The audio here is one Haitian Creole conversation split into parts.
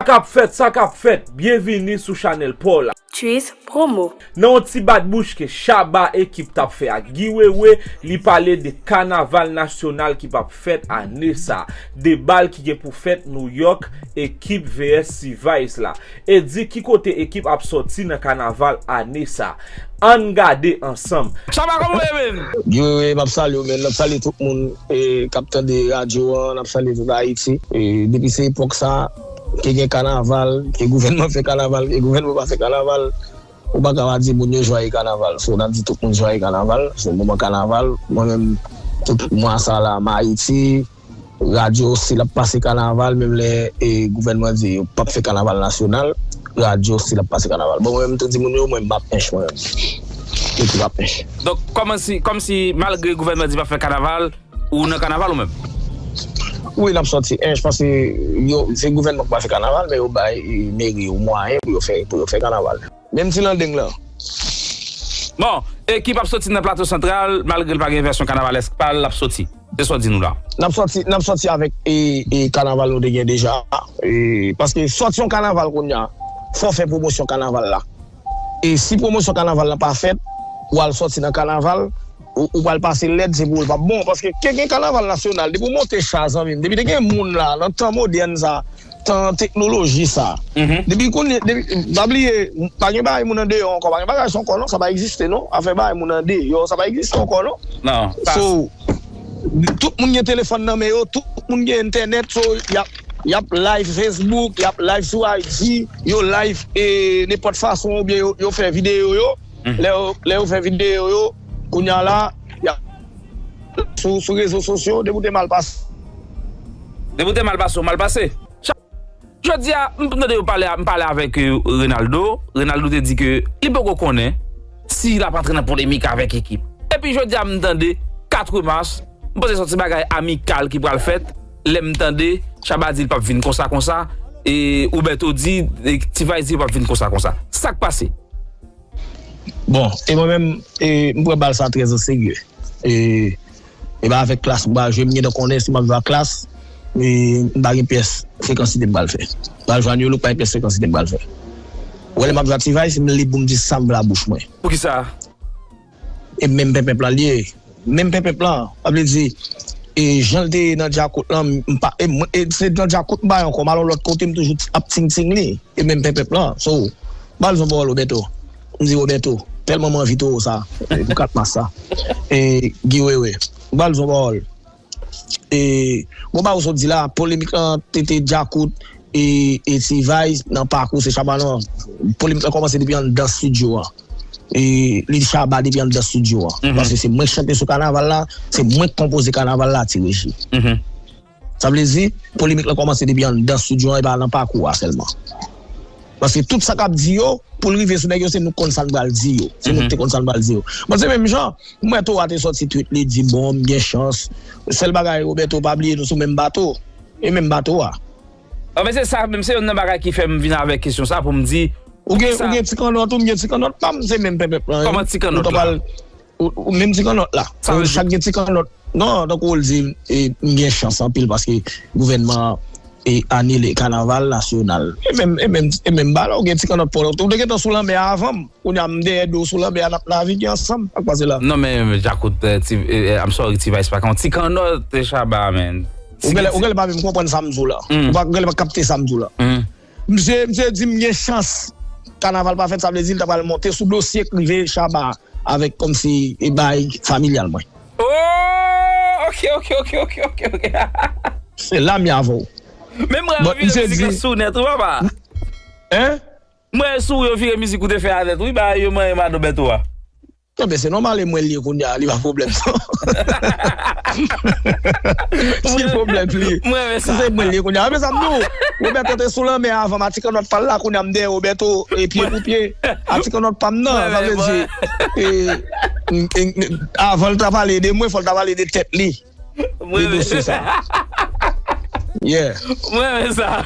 Sa kap fèt sa kap fèt byenvini sou chanèl paw la. Tchuiss promo. Nan yon ti bat bouch ke Shabba ekip tap fè ak Guy Wewe, li pale de kanaval nasyonal ki pap fèt ane sa, de bal ki gen pou fèt Nouyòk, ekip vs T-vice la. E di ki kote ekip ap sòti nan kanaval ane sa. Ann gade ansanm. Shabba kòman ou ye menn? Guy Wewe map salye w menn, map salye tout moun kap tande radyo an, nap salye tout Ayiti. Depi se epòk sa, ke gen kanaval, ke gouvènman fè kanaval, ke gouvènman pa fè kanaval, ou paka pa di moun yo jwaye kanaval. So nap di tout moun jwaye kanaval, se moman kanaval, mwen menm tout mwa sa la m Ayiti. Radyo stil ap pase kanaval menm lè gouvènman di yo pap fè kanaval nasyonal radyo stil ap pase kanaval bon mwen menm mtou di moun yo mwen mpa pnch mwen menm mtou di mpa pnch. Donk kòmansi kòmsi malgre gouvènman di pap fè kanaval ou nan kanaval ou menm? Wi nap sòti ench paske yo se gouvènman ki pa fè kanaval men yo bay meri yo mwayen pou yo fè pou yo fè kanaval. Menm ti landeng lan. Bon, ekip ap soti nan Plato Santral, malgre l pa gen vèsyon kanavalèsk pa l, l ap soti. Se sa w di nou la. N ap soti, n ap soti avèk kanaval nou te gen deja a. Paske soti yon kanaval kounye a, fò w fè pwomosyon kanaval la. E si pwomosyon kanaval la pa fèt, w al soti nan kanaval. Ou pral pase lèd se pou ou l pap bon paske ke gen kanaval nasyonal depi w monte cha zanmi m depi te gen moun la nan tan modèn sa tan teknoloji sa depi kounye depi pa bliye pa gen bagay moun andeyò ankò pa gen bagay sa ankò non sa pa egziste non afè bagay moun andeyò sa pa egziste ankò non so tout moun gen telefòn nan men yo tout moun gen entènèt so y ap live facebook y ap live sou IG yo live nenpòt fason oubyen yo fè videyo yo. Lè yo fè videyo yo kounya la yap sou rezo sosyo depi w te mal pase. Depi w te mal pase w mal pase. Jodia m tande yo pale m pale avèk Renaldo, Renaldo te di ke li poko konnen si lap antre nan polemik avèk ekip. Epi jodia m tande 4 mas m panse son ti bagay amikal ki pral fèt. Lem tande Chaba di li pap vin konsa konsa e Roberto di T-vice di yo pap vin konsa konsa. Sak pase? Bon, e mwen menm m pran bal sa trè o serye. E e pa avèk klass m pral jwe, m gentan konnen si map jwe ak klass m pa gen pyès frekansite m pral fè. M pral jwe a new look m pa gen pyès frekansite m pral fè. Wè lè map jwe ak T-vice m lib pou m di sam vle a bouch mwen. Poukisa? e menm penpenp lan liye menm penpenp lan sa vle di e janl te ye nan djakout lan mpa e se nan djakout mpa ankò malon lòt kote m toujou ap ting ting li e menm penpenp lan so bal son pawòl obèto m di obèto tèlman m anvi towo sa pou 4 mas sa e giwewe bal son pawòl. e bon bagay ou sot di la polemik lan TT djakout e T-vice nan pakou se shabba nan polemik lan komanse depi anndan studio an e li shabba depi anndan studio an paske se mwen ki chante sou kanaval la se mwen ki konpoze kanaval la T-reji sa vle di polemik lan komanse depi anndan studio an e pa nan pakou a selman. Paske tout sa kap di yo poul rive sou nèg yo se nou konn sa nou pral di yo. Se nou ki te konn sa nou pral di yo. Bon se menm jan, m wè Torah te sòti tweet li di bon m gen chans. Sèl bagay Roberto pa bliye nou sou menm bato. E menm bato a. Anfen se sa menm se yonn nan bagay ki fèm vin avèk kesyon sa poum di poukisa. Ou gen ti kannòt ou m gen ti kannòt pam se menm pèpèp lan. Kòman ti kannòt la. Ou menm ti kannòt la. Sa vle di. Chak gen ti kannòt. Non, tankou ou di, m gen chans anpil paske gouvènman an anile kanaval nasyonal. E menm ba la ou gen ti kannòt paw la. Ou te gentan sou lanmè a avan m. Kounye a m dèyè dlo w sou lanmè a n ap navige ansanm. Sa k pase la? Non men Djakout, I'm sorry T-Vice pa ka yon ti kannòt Shabba man. Ou genlè pa menm konprann sa m di w la. Ou genlè pa kapte sa m di w la. Msye msye di m gen chans kanaval pa fèt sa vle di l ta pral monte sou dosye k rive Shabba a avèk kòmsi e baay familyal mwen. Ooh ok ok ok ok ok ok. Se la m ye avè w. Men mwen yo vire mizik la sou ou nèt wi papa. Hein? Mwen yo sou ou yo vire mizik ou te fè a nèt wi baay yo manyen Mado Bèto a. Non men se nòmal e mwen li kounya li pa pwoblèm non. Ki pwoblèm li? Si se mwen li kounya. Anben sa m di w, Roberto te sou lanmè avan m atikanòt pa l la kounya m dèyè Roberto pye pou pye. Atikanòt pa m nan sa vle di avan l ta pale de mwen fò l ta pale de tèt li de dosye sa. Yeah. Mwen renmen sa.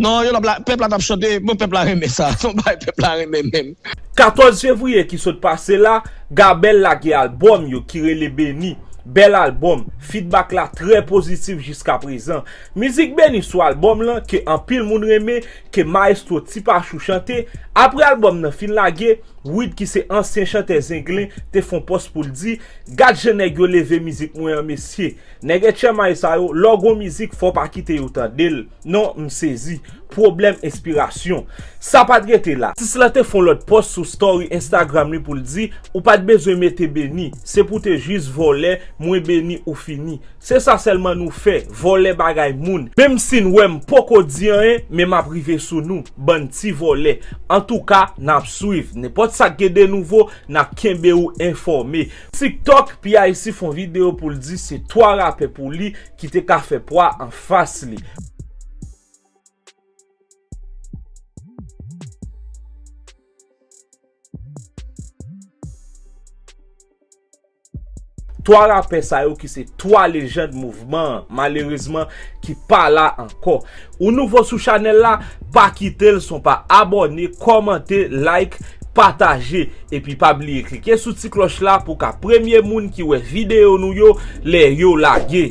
Non yo lap pèp la tap chante bon pèp la renmen sa son bagay pèp la renmen menm. 14 fevriye ki sot pase la, Gabel lage albòm yo ki rele Beni, bèl albòm, fidbak la trè pozitif jiska prezan. Mizik Beni sou albòm lan ke anpil moun renmen, ke Maestro Ti Pachou chante, apre albòm nan fin lage, Wid ki se ansyen chantè Zenglen te fon pòs pou l di, gad jan nèg yo leve mizik mwen an mesye. Nèg Etchèmay sa yo, lè w gon mizik fò w pa kite yo tande l. Non, m sezi. Pwoblèm enspirasyon. Sa pa t rete la. Atis la te fè yon lòt pòs sou story Instagram li pou l di, Ou pa t bezwen mete beni. Se pou w te jis vòlè, mwen beni ou fini. Se sa sèlman nou fè, vòlè bagay moun. Menm si n wè m poko di anyen, men m ap rive sou nou, bann ti vòlè. Antouka, n ap swiv. Nenpòt sa k gen de nouvo, n ap kenbe ou enfòme. Tiktok, Pyc fè yon videyo pou l di se 3 rapè pou li Ki te ka fè pwa an fas li. Twa rapè sa yo ki se twa lejand mouvman an, malerezman ki pa la ankò. Ou nouvo sou chanel la pa kitel son pa abone komante like pataje epi pa bliye klike sou ti kloch la pou ka premye moun ki wè video nou yo lè yo lage.